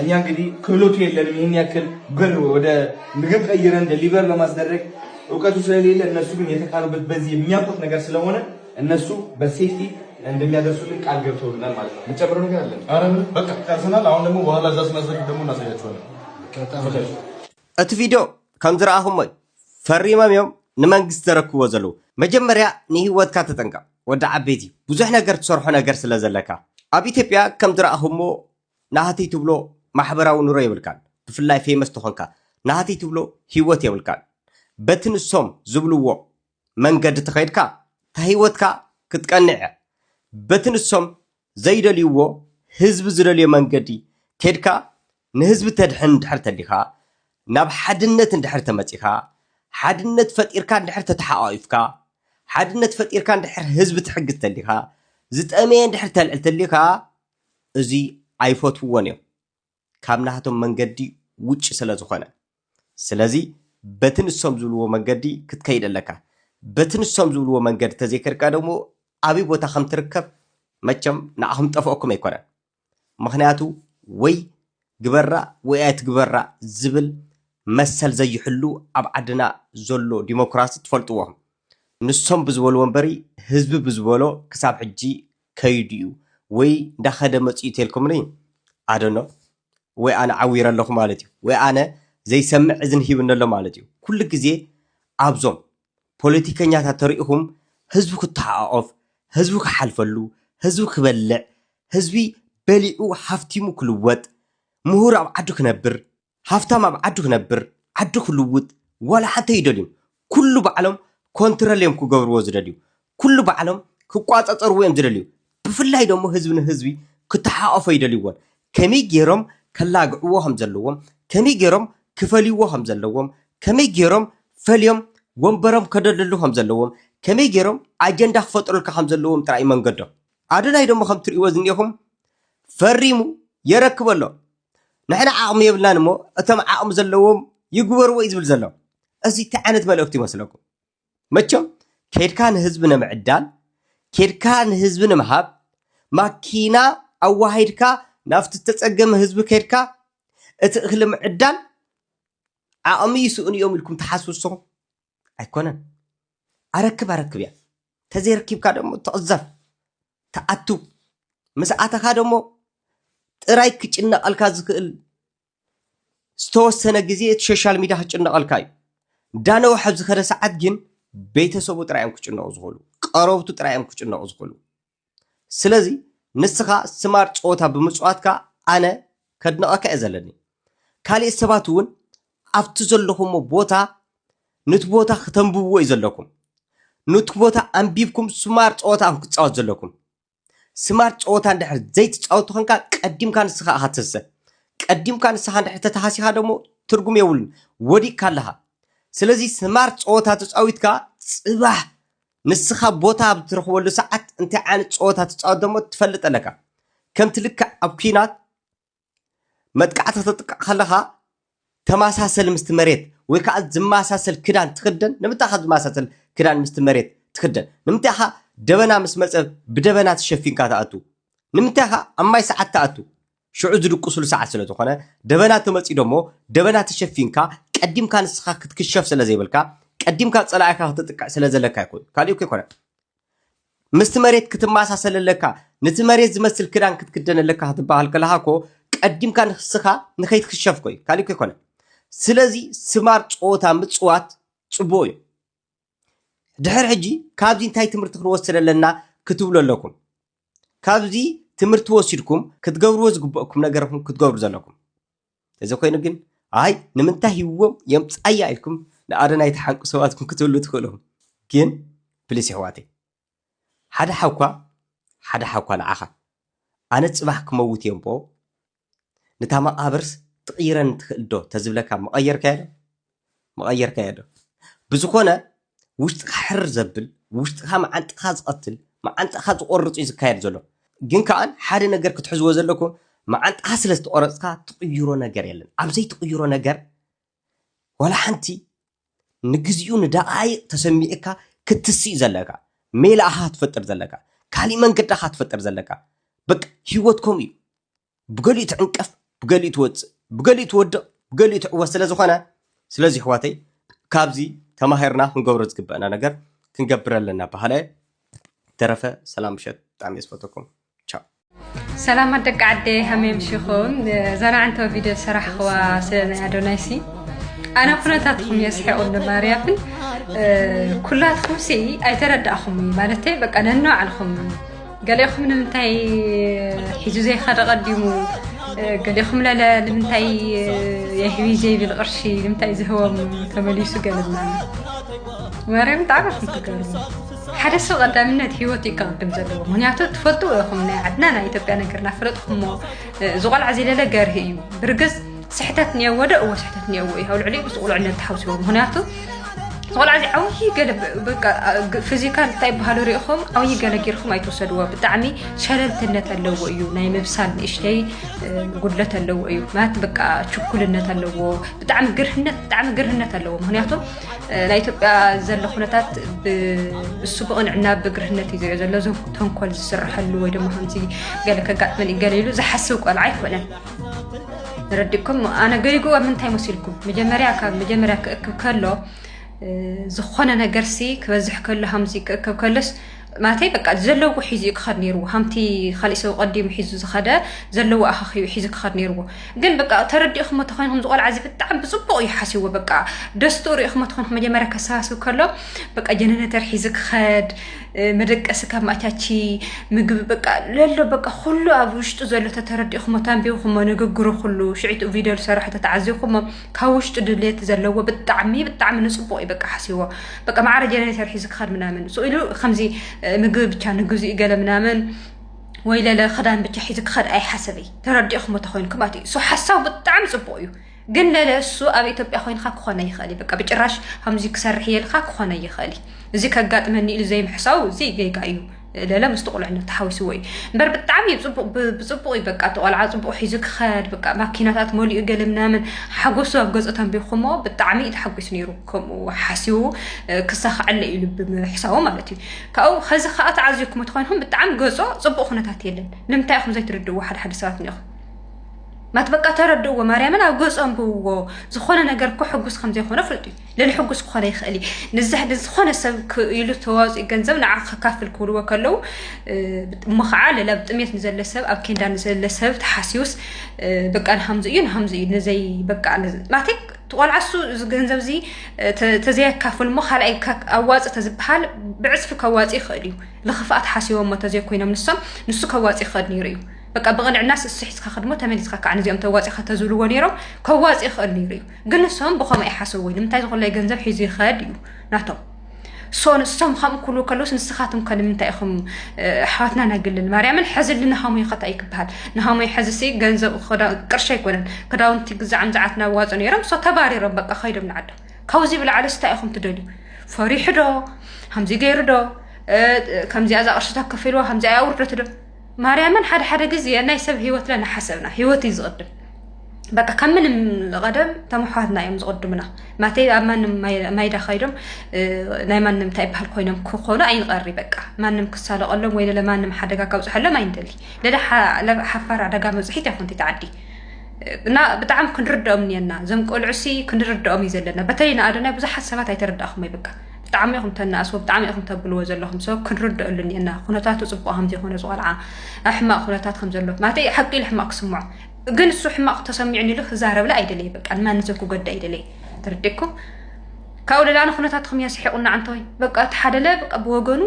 እኛ እንግዲህ ክህሎቱ የለንም ይህን ያክል ብር ወደ ምግብ ቀይረን ደሊቨር ለማስደረግ እውቀቱ ስለሌለ እነሱ ግን የተካኑበት በዚህ የሚያውቁት ነገር ስለሆነ እነሱ በሴፍቲ እንደሚያደርሱልን ቃል ገብተውልናል ማለት ነው። የምጨምረው ነገር አለ? ኧረ ምንም በቃ ጨርሰናል። አሁን ደግሞ በኋላ እዛ ስናስረክብ ደግሞ እናሳያቸዋለን። እቲ ቪድዮ ከም ዝረኣኹሞ እዩ ፈሪሞም እዮም ንመንግስቲ ዘረክብዎ ዘለዉ። መጀመርያ ንህይወትካ ተጠንቀቕ ወዲ ዓበይቲ ብዙሕ ነገር ትሰርሖ ነገር ስለ ዘለካ ኣብ ኢትዮጵያ ከም ዝረኣኹሞ ናህትይ ትብሎ ማሕበራዊ ኑሮ የብልካን ብፍላይ ፌመስ ተኾንካ ናህትይ ትብሎ ሂወት የብልካን በቲ ንሶም ዝብልዎ መንገዲ ተኸይድካ ታሂወትካ ክትቀንዕ እያ በቲ ንሶም ዘይደልይዎ ህዝቢ ዝደልዮ መንገዲ ከይድካ ንህዝቢ ተድሕን እንድሕር ተሊኻ ናብ ሓድነት እንድሕር ተመጺኻ ሓድነት ፈጢርካ እንድሕር ተተሓቛቒፍካ ሓድነት ፈጢርካ እንድሕር ህዝቢ ትሕግዝ ተሊኻ ዝጠመየ እንድሕር ተልዕል ተሊኻ እዚ ኣይፈትውዎን እዮም ካብ ናህቶም መንገዲ ውጭ ስለ ዝኾነ ስለዚ በቲ ንሶም ዝብልዎ መንገዲ ክትከይድ ኣለካ በቲ ንሶም ዝብልዎ መንገዲ ተዘይከድካ ደሞ ኣብይ ቦታ ከም ትርከብ መቸም ንዓኹም ጠፍኦኩም ኣይኮነን ምኽንያቱ ወይ ግበራ ወይ ኣይትግበራ ዝብል መሰል ዘይሕሉ ኣብ ዓድና ዘሎ ዲሞክራሲ ትፈልጥዎ ንሶም ብዝበልዎ እምበሪ ህዝቢ ብዝበሎ ክሳብ ሕጂ ከይዱ እዩ ወይ እንዳኸደ መፂኡ ተልኩምኒ ኣደኖ ወይ ኣነ ዓዊረ ኣለኹ ማለት እዩ ወይ ኣነ ዘይሰምዕ እዝን ሂብኒ ኣሎ ማለት እዩ ኩሉ ግዜ ኣብዞም ፖለቲከኛታት ተሪኢኹም ህዝቢ ክተሓቋቆፍ ህዝቢ ክሓልፈሉ ህዝቢ ክበልዕ ህዝቢ በሊዑ ሃፍቲሙ ክልወጥ ምሁር ኣብ ዓዱ ክነብር ሃፍታም ኣብ ዓዱ ክነብር ዓዱ ክልውጥ ዋላ ሓንቲ ኣይደልዩን ኩሉ ባዕሎም ኮንትረል እዮም ክገብርዎ ዝደልዩ ኩሉ ባዕሎም ክቋጻጸርዎ እዮም ዝደልዩ ብፍላይ ደሞ ህዝቢ ንህዝቢ ክተሓቆፎ ኣይደልይዎን ከመይ ጌሮም ከላግዕዎ ከም ዘለዎም ከመይ ጌሮም ክፈልይዎ ከም ዘለዎም ከመይ ጌሮም ፈልዮም ወንበሮም ከደልድሉ ከም ዘለዎም ከመይ ጌሮም ኣጀንዳ ክፈጥሩልካ ከም ዘለዎም ጥራይ እዩ መንገዶም ኣዶናይ ደሞ ከም ትርእይዎ ዝኒኤኹም ፈሪሙ የረክብ ኣሎ ንሕና ዓቕሚ የብልናን እሞ እቶም ዓቕሚ ዘለዎም ይግበርዎ እዩ ዝብል ዘሎ። እዚ እንታይ ዓይነት መልእኽቲ ይመስለኩም? መቸም ኬድካ ንህዝቢ ንምዕዳል ኬድካ ንህዝቢ ንምሃብ ማኪና ኣዋሂድካ ናብቲ ዝተፀገመ ህዝቢ ኬድካ እቲ እኽሊ ምዕዳል ዓቕሚ ይስእኑ እዮም ኢልኩም ትሓስቡ ንስኹም? ኣይኮነን ኣረክብ ኣረክብ እያ ተዘይረኪብካ ደሞ ትቕዘፍ ትኣቱ ምስ ኣተኻ ደሞ ጥራይ ክጭነቐልካ ዝኽእል ዝተወሰነ ግዜ እቲ ሶሻል ሚድያ ክጭነቐልካ እዩ እንዳነውሐ ዝኸደ ሰዓት ግን ቤተሰቡ ጥራይ እዮም ክጭነቑ ዝኽእሉ ቀረብቱ ጥራይ እዮም ክጭነቑ ዝኽእሉ ስለዚ ንስኻ ስማርት ጸወታ ብምጽዋትካ ኣነ ከድንቐካ እየ ዘለኒ። ካሊእት ሰባት እውን ኣብቲ ዘለኹሞ ቦታ ኑቲ ቦታ ክተንብብዎ እዩ ዘለኩም። ኑቲ ቦታ ኣንቢብኩም ስማርት ጸወታ እኹም ክትጻወት ዘለኩም። ስማርት ጸወታ እንድሕር ዘይትጻወቱ ከንካ ቀዲምካ ንስኻ እኻ ትህሰ። ቀዲምካ ንስኻ እንድሕር ተተሃሲኻ ደሞ ትርጉም የብሉን ወዲቅካ ኣለኻ። ስለዚ ስማርት ጸወታ ተጻዊትካ ጽባሕ ንስኻ ቦታ ኣብ እትረኽበሉ ሰዓት እንታይ ዓይነት ጸወታ ትጻወት ደሞ ትፈልጥ ኣለካ። ከምቲ ልክዕ ኣብ ኲናት መጥቃዕቲ ክትጥቃዕ ከለኻ ተመሳሰሊ ምስቲ መሬት ወይ ከዓ ዝመሳሰል ክዳን ትኽደን ንምንታይ ኢኻ ዝመሳሰል ክዳን ምስቲ መሬት ትኽደን ንምንታይ ኢኻ ደበና ምስ መፀ ብደበና ተሸፊንካ ትኣቱ ንምንታይ ኢኻ ኣብ ማይ ሰዓት ትኣቱ ሽዑ ዝድቅሱሉ ሰዓት ስለ ዝኾነ ደበና ተመጽዩ ደሞ ደበና ተሸፊንካ ቀዲምካ ንስኻ ክትክሸፍ ስለ ዘይብልካ ቀዲምካ ጸላኢኻ ክትጥቅዕ ስለ ዘለካ ይኹን ካልእ እኮ ኣይኮነን ምስቲ መሬት ክትመሳሰል ኣለካ ነቲ መሬት ዝመስል ክዳን ክትክደን ኣለካ ክትበሃል ከለኻ እኮ ቀዲምካ ንስኻ ንኸይትክሸፍ ኮይ ካልእ እኮ ኣይኮነን ስለዚ ስማር ጸወታ ምጽዋት ጽቡቕ እዩ ድሕር ሕጂ ካብዚ እንታይ ትምህርቲ ክንወስድ ኣለና ክትብሉ ኣለኩም ካብዚ ትምህርቲ ወሲድኩም ክትገብርዎ ዝግበእኩም ነገርኩም ክትገብሩ ዘለኩም እዚ ኮይኑ ግን ኣይ ንምንታይ ሂዎም የምፃያ ኢልኩም ንኣረናይ ተሓንቁ ሰባትኩም ክትብሉ ትኽእልኹም ግን ፕሊስ ይሕዋተይ ሓደ ሓኳ ሓደ ሓኳ ንዓኻ ኣነ ፅባሕ ክመውት እየ እምቦ ንታ መቓብርስ ትቕይረኒ ትኽእል ዶ ተዝብለካ ምቐየርካዮ ዶ? ምቐየርካዮ ዶ? ብዝኾነ ውሽጥኻ ሕርር ዘብል ውሽጥኻ መዓንጣኻ ዝቐትል መዓንጣኻ ዝቖርጽ እዩ ዝካየድ ዘሎ። ግን ከኣ ሓደ ነገር ክትሕዝዎ ዘለኩም መዓንጣኻ ስለ ዝተቖረጽካ ትቕይሮ ነገር የለን። ኣብ ዘይትቕይሮ ነገር ዋላ ሓንቲ ንግዚኡ ንደቓይቕ ተሰሚዑካ ክትስእ ዘለካ ሜላ ኢኻ ክትፈጥር ዘለካ ካሊእ መንገዲ ኢኻ ክትፈጥር ዘለካ በቃ ሂወት ከምኡ እዩ ብገሊኡ ትዕንቀፍ ብገሊኡ ትወጽእ ብገሊኡ ትወድቕ ብገሊኡ ትዕወት ስለ ዝኾነ ስለዚ ኣሕዋተይ ካብዚ ተማሂርና ክንገብሮ ዝግበአና ነገር ክንገብር ኣለና በሃላይ ተረፈ ሰላም ምሸት ብጣዕሚ እየ ዝፈትወኩም ቻው ሰላማት ደቂ ዓደይ ሃመይ ምሽኹም ዘና ዕንተው ቪድዮ ዝሰራሕኽዋ ስለ ናይ ኣዶናይሲ ኣነ ኩነታትኩም የስሕቑኒ ማርያምን ኩላትኩም ሲ ኣይተረዳእኹም እዩ ማለተይ በቃ ነንባዕልኹም ገሊኹም ንምንታይ ሒዙ ዘይኸደ ቀዲሙ ገሊኹም ለለ ንምንታይ የህቢ ዘይብል ቅርሺ ንምንታይ ዝህቦም ተመሊሱ ገለና ማርያም ብጣዕሚ ኢኹም ትገርሙ ሓደ ሰብ ቀዳምነት ሂወት እዩ ክቕድም ዘለዎ ምክንያቱ ትፈልጥዎ ኢኹም ናይ ዓድና ናይ ኢትዮጵያ ነገር ናፈለጥኩሞ እዚ ቆልዓ ዝለለ ገርሂ እዩ ብርግፅ ስሕተት እኒኦ ወደ እዎ ስሕተት እኒኦ እዩ ኣብ ልዕሊኡ ምስ ቁልዕነት ተሓውስዎ ምክንያቱ ቆልዓ እዚ ዓብዪ ገለ በቃ ፊዚካል እንታይ ይበሃሉ ሪኢኹም ዓብዪ ገለ ጌርኩም ኣይትወሰድዎ ብጣዕሚ ሸለልትነት ኣለዎ እዩ ናይ ምብሳል ንእሽተይ ጉድለት ኣለዎ እዩ ማለት በቃ ችኩልነት ኣለዎ ብጣዕሚ ግርህነት ብጣዕሚ ግርህነት ኣለዎ ምክንያቱ ናይ ኢትዮጵያ ዘሎ ኩነታት ብእሱ ብቕንዕና ብግርህነት እዩ ዝሪኦ ዘሎ እዞም ተንኮል ዝስርሐሉ ወይ ድማ ከምዚ ገለ ከጋጥመን ገለ ኢሉ ዝሓስብ ቆልዓ ኣይኮነን ረዲእኩም ኣነ ገሪጉ ኣብ ምንታይ መሲልኩም መጀመርያ ካብ መጀመርያ ክእክብ ከሎ ዝኾነ ነገርሲ ክበዝሕ ከሎ ሃምዚ ክእክብ ከሎስ ናተይ በቃ ዘለዎ ሒዙ እዩ ክኸድ ነይርዎ ከምቲ ካሊእ ሰብ ቀዲሙ ሒዙ ዝኸደ ዘለዎ ኣኻኺቡ ሒዙ ክኸድ ነይርዎ ግን በቃ ተረዲእኹሞ ተኮይንኩም ዝቆልዓ እዚ ብጣዕሚ ብፅቡቅ እዩ ሓሲዎ በቃ ደስትኡ ሪእኹሞ ተኮይንኩም መጀመርያ ከሰባስብ ከሎ በቃ ጀነነተር ሒዙ ክኸድ መደቀሲ ካብ ማቻቺ ምግቢ በቃ ለሎ በቃ ኩሉ ኣብ ውሽጡ ዘሎ ተተረዲእኹሞ ተንቢብኹሞ ንግግሩ ኩሉ ሽዒትኡ ቪደዮ ዝሰራሖ ተተዓዚብኹሞ ካብ ውሽጡ ድሌት ዘለዎ ብጣዕሚ ብጣዕሚ ንፅቡቅ እዩ በቃ ሓስዎ በቃ ማዕረ ጀነሬተር ሒዙ ክኸድ ምናምን ሱ ኢሉ ከምዚ ምግቢ ብቻ ንግዚኡ ገለ ምናምን ወይ ለለ ክዳን ብቻ ሒዙ ክኸድ ኣይሓሰበይ ተረዲእኹሞ ተኮይንኩም ማለት እዩ ሶ ሓሳብ ብጣዕሚ ፅቡቅ እዩ ግን ለለ እሱ ኣብ ኢትዮጵያ ኮይንካ ክኾነ ይኽእል እዩ በቃ ብጭራሽ ከምዚ ክሰርሕ የልካ ክኾነ ይኽእል እዩ እዚ ከጋጥመኒ ኢሉ ዘይምሕሳው እዚ ጌጋ እዩ ለለ ምስቲ ቁልዕነት ተሓዊስዎ እዩ እምበር ብጣዕሚ እዩ ፅቡቅ ብፅቡቅ እዩ በቃ እቲ ቆልዓ ፅቡቅ ሒዙ ክኸድ በቃ ማኪናታት መሊኡ ገለ ምናምን ሓጎሱ ኣብ ገፁ ተንቢኹሞ ብጣዕሚ እዩ ተሓጒስ ነይሩ ከምኡ ሓሲቡ ክሳኸዐለ እዩ ልቢ ምሕሳቡ ማለት እዩ ካብኡ ከዚ ከዓ ተዓዚብኩሞ ተኮይንኩም ብጣዕሚ ገፆ ፅቡቅ ኩነታት የለን ንምንታይ ኢኹም ዘይትርድእዎ ሓደ ሓደ ሰባት ኒኹም ማት በቃ ተረድእዎ ማርያምን ኣብ ገፁ ኣንብብዎ ዝኾነ ነገር እኮ ሕጉስ ከምዘይኮነ ፍልጡ እዩ ልልሕጉስ ክኾነ ይኽእል እዩ ንዛሕ ግን ዝኾነ ሰብ ኢሉ ተዋፅኡ ገንዘብ ንዓ ከካፍል ክብልዎ ከለዉ እሞ ከዓ ሌላ ብጥሜት ንዘለ ሰብ ኣብ ኬንዳ ንዘለ ሰብ ተሓስዩስ በቃ ንሃምዚ እዩ ንሃምዚ እዩ ንዘይ በቃ ማለተይ ቆልዓ እሱ እዚ ገንዘብ እዚ ተዘየካፍል እሞ ካልኣይ ኣዋፅ ተዝበሃል ብዕፅፊ ከዋፅ ይኽእል እዩ ንክፍኣት ሓሲቦሞ ተዘይኮይኖም ንሶም ንሱ ከዋፅ ይኽእል ነይሩ እዩ በቃ ብቕንዕናስ እሱ ሒዝካ ከድሞ ተመሊስካ ከዓ ንዚኦም ተዋፂኻ ተዝብልዎ ነይሮም ከዋፅ ይኽእል ነይሩ እዩ ግን ንሶም ብከምኡ ኣይሓሰብዎይ ንምንታይ ዝኮለይ ገንዘብ ሒዙ ይኸድ እዩ ናቶም ሶ ንሶም ከምኡ ክብሉ ከለውስ ንስኻትም ከ ንምንታይ ኢኹም ኣሕዋትና ናግልን ማርያምን ሕዝሊ ንሃሙይ ከታ እዩ ክበሃል ንሃሙይ ሕዝሲ ገንዘብ ቅርሺ ኣይኮነን ክዳውንቲ ግዛዕም ዝዓት ናዋፁ ነይሮም ሶ ተባሪሮም በቃ ከይዶም ንዓዶ ካብዚ ብላዕሊ ስታይ ኢኹም ትደልዩ ፈሪሑ ዶ ከምዚ ገይሩ ዶ ከምዚኣ እዛ ቅርሽታ ከፊልዋ ከምዚኣ ኣውርደት ዶ ማርያምን ሓደ ሓደ ግዜ ናይ ሰብ ሂወት ለና ሓሰብና ሂወት እዩ ዝቕድም በቃ ካብ ምንም ቀደም ተመሓዋትና እዮም ዝቕድሙና ማተይ ኣብ ማንም ማይዳ ከይዶም ናይ ማንም እንታይ ይበሃል ኮይኖም ክኾኑ ኣይንቐሪ በቃ ማንም ክሳለቐሎም ወይ ለለ ማንም ሓደጋ ካብፅሐሎም ኣይንደሊ ለለ ሓፋር ኣደጋ መብፅሒት ያኹንቲ ተዓዲ እና ብጣዕሚ ክንርድኦም እኒአና እዞም ቆልዑሲ ክንርድኦም እዩ ዘለና በተለይ ንኣዶናይ ብዙሓት ሰባት ኣይተረዳእኹም ይብቃ ብጣዕሚ ኢኹም ተናእስዎ ብጣዕሚ ኢኹም ተብልዎ ዘለኹም ሰብ ክንርድኣሉ እኒአና ኩነታቱ ፅቡቅ ከምዘይኮነ ዝቆልዓ ኣብ ሕማቅ ኩነታት ከምዘሎ ማለት ሓቂ ኢሉ ሕማቅ ክስምዖ ግን እሱ ሕማቅ ተሰሚዑ ኢሉ ክዛረብላ ኣይደለይ በቃ ንማንም ሰብ ክጎዳ ኣይደለይ ተረዲእኩም ካብኡ ሌላ ንኩነታትኩም እያ ስሒቁና ዓንተወይ በቃ እቲ ሓደለ በቃ ብወገኑ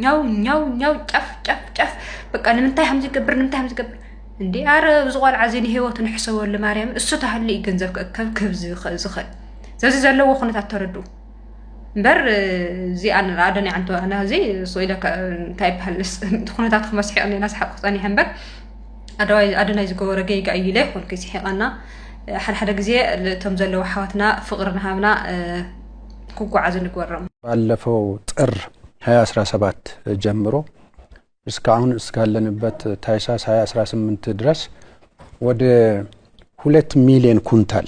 ኛው ኛው ኛው ጫፍ ጫፍ ጫፍ በቃ ንምንታይ ከም ዝገብር ንምንታይ ከም ዝገብር እንዲ ኣረ ዝቆልዓ እዚ ንሂወቱ ንሕሰበሉ ማርያም እሱ ተሃሉ እዩ ገንዘብ ክእከብ ክህብ ዝኽእል ስለዚ ዘለዎ ኩነታት ተረድኡ እምበር እዚኣ ንርኣ ደንያ ዕንቶ ናዚ ስኢለ እንታይ ይበሃል እቲ ኩነታት ክመስሒቕ ኔና ሰሓቅ ክፀኒሐ እምበር ኣደናይ ዝገበሮ ገይጋ እዩ ኢለ ይኮንኩ ስሒቐና ሓደሓደ ግዜ እቶም ዘለዉ ሓዋትና ፍቕሪ ንሃብና ክጓዓዙ ንግበሮም ባለፈው ጥር 2017 ጀምሮ እስካሁን እስካለንበት ታይሳስ 2018 ድረስ ወደ ሁለት ሚሊዮን ኩንታል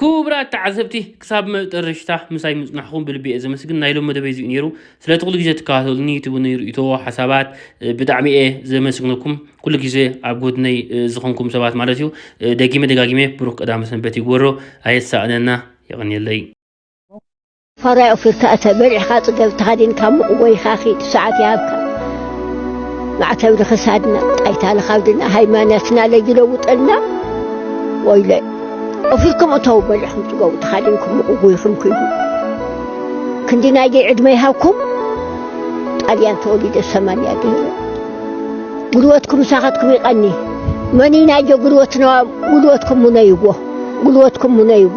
ኩቡራት ተዓዘብቲ ክሳብ መጠረሽታ ምሳይ ምጽናሕኩም ብልቢ እየ ዘመስግን ናይ ሎም መደበይ እዚኡ ነይሩ ስለቲ ኩሉ ግዜ ትከታተሉኒ ትቡኒ ርእቶ ሓሳባት ብጣዕሚ እየ ዘመስግነኩም ኩሉ ግዜ ኣብ ጎድነይ ዝኮንኩም ሰባት ማለት እዩ ደጊመ ደጋጊመ ብሩክ ቀዳመ ሰንበት ይግበሮ ኣየሳእነና የቀንየለይ። ፋራይ ኦፊርካ እተ በሊዕካ ጽገብ ተኸዲንካ ሙቕ ጎይኻ ኺድ ሰዓት ይሃብካ ማዕተብ ንኽሳድና ጣይታ ንኻብድና ሃይማኖትና ለጅለውጠልና ወይለይ ኦፊርኩም እተው በሊዕኩም ጽገቡ ተኻዲንኩም ሙቕ ጎይኹም ክይዱ ክንዲ ናይደይ ዕድመ ይሃብኩም ጣልያን ተወሊደ ሰማንያ ገይረ ጉልበትኩም ሳኻትኩም ይቐኒ መኒ ናይጆ ጉልበትና ጉልበትኩም ሙነይዎ ጉልበትኩም ሙነይዎ።